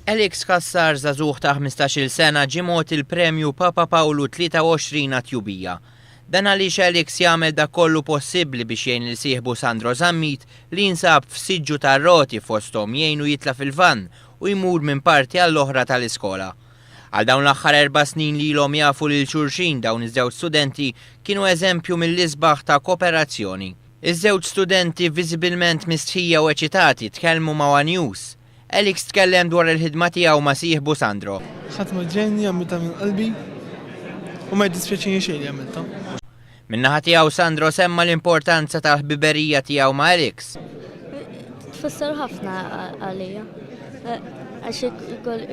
Alex Cassar, żagħżugħ ta' ħmistax-il sena, ġie mogħti l-Premju Papa Pawlu 23 għat-tjubija. Dan għaliex Alex jagħmel dak kollu possibbli biex jgħin lil sieħbu Sandro Zammit li jinsab f'siġġu tar-roti fosthom jgħinu jitla' fil-vann u jmur minn parti għall-oħra tal-iskola. Għal dawn l-aħħar erba' snin li ilhom jafu lil xulxin dawn iż-żewġ studenti kienu eżempju mill-isbaħ ta' koperazzjoni. Iż-żewġ studenti viżibilment mistħija u eċitati tkellmu ma' one News. Alix tkellem dwar il-ħidma tiegħu ma' sieħbu Sandro. Ħadma ġenja, għamiltha minn qalbi u ma jiddispjaċini xejn li għamiltha. Min-naħa tiegħu Sandro semma l-importanza tal-ħbiberija tiegħu ma' Alix. Tfisser ħafna għalija għax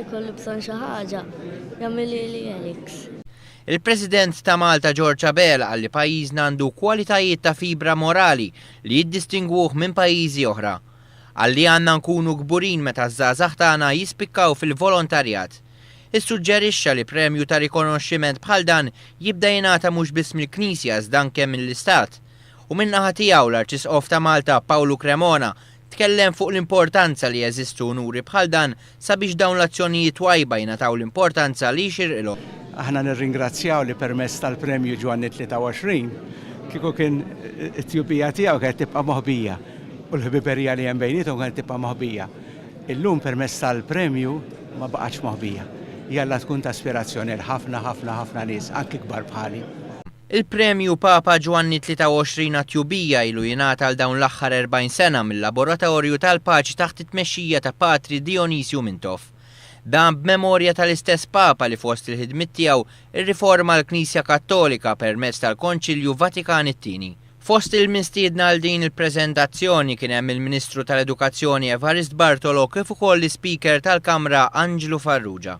ikolli bżonn xi ħaġa jagħmilhieli Alix. Il-President ta' Malta George Abela qal li pajjiżna għandu kwalitajiet ta' fibra morali li jiddistingwuh minn pajjiżi oħra. Qal li għandna nkunu kburin meta ż-żgħażagħ tagħna jispikkaw fil-volontarjat. Issuġġerixxa li premju ta' rikonoxximent bħal dan jibda jingħata mhux biss mill-Knisja iżda anke mill-Istat. U min-naħa tiegħu l-Arċisqof ta' Malta Pawlu Cremona Tkellem fuq l-importanza li jeżistu unuri bħal dan sabiex dawn l-azzjonijiet twajba jingħataw l-importanza li jxirqilhom. Aħna nirringrazzjaw li permezz tal-Premju Ġwanni 23 kieku kien it-tjubija tiegħu kienet tibqa' moħbija u l-ħbiberija li hemm bejniethom kienet tibqa' moħbija. Illum permezz tal-premju ma baqgħetx moħbija. Jalla tkun ta' ispirazzjoni għal ħafna ħafna ħafna nies, anki kbar bħali. Il-Premju Papa Ġwanni 23 għat-Tjubija ilu jingħata għal dawn l-aħħar 40 sena mil-Laboratorju tal-Paċi taħt it-tmexxija ta' Patri Dionysio Mintoff. Dan b'memorja tal-istess Papa li fost il-ħidmiet tiegħu rriforma l-Knisja Kattolika permezz tal-Konċilju Vatikan it-Tieni. Fost il-mistiedna għal din il-preżentazzjoni kien hemm il-Ministru tal-Edukazzjoni Evarist Bartolo kif ukoll l-Ispeaker tal-Kamra Anġlu Farrugia.